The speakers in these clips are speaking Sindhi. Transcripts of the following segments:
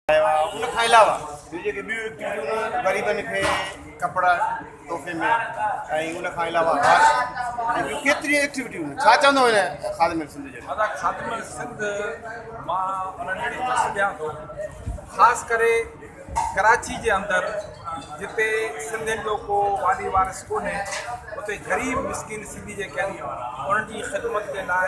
ان کان علاوه ٻيون جيڪي ٻيون ايڪٽيوٽيون غريبن کي ڪپڙا تحفي ۾ ۽ ان کان علاوه ٻيون ڪيتريون ايڪٽيوٽيون ڇا چوندو هن خادم سنڌ جي ادا خادم سنڌ مان انهن جي ڏس ڏيان ٿو خاص ڪري ڪراچي جي اندر جتي سنڌين جو ڪو والي وارث ڪونهي اتي غريب مسڪين سنڌي جيڪي آهن انهن جي خدمت جي لاء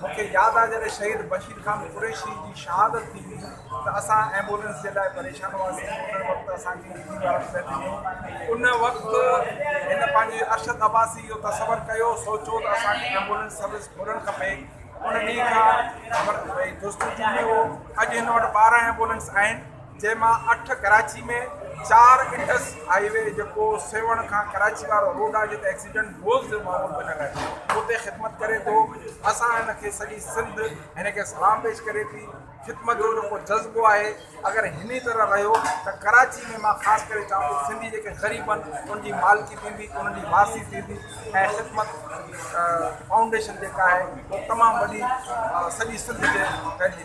مون کي ياد آهي جڏهن شهيد بشير خان قريشي جي شهادت ٿي هئي ته اسان ايمبولينس جي لاء پريشان هئاسين ان وقت اسان جي ڊي جي وارن پهتي ڏنو ان وقت هن پنهنجي ارشد عباسي اهو تصور ڪيو سوچيو ته اسان کي ايمبولينس سروس کولڻ کپي ان ڏينهن کان جستجو ۾ هو اڄ هن وٽ ٻارهن ايمبولينس آهن جنهن مان اٺ ڪراچي ۾ چار انڊس هائي وي جيڪو سيوهڻ کان ڪراچي وارو روڊ آهي جتي ايڪسيڊنٽ روز جو معمول بنيل آهي اتي خدمت ڪري ٿو اسان هن کي سڄي سنڌ هن کي سلام پيش ڪري ٿي خدمت جو جيڪو جذبو آهي اگر هن طرح رهيو ته ڪراچي ۾ مان خاص ڪري چوان ٿو سنڌي جيڪي غريب آهن ان جي مالڪي ٿيندي انهن جي وارثي ٿيندي ۽ خدمت فائونڊيشن جيڪا آهي تمام وڏي سڄي سنڌ کي ڦهلجي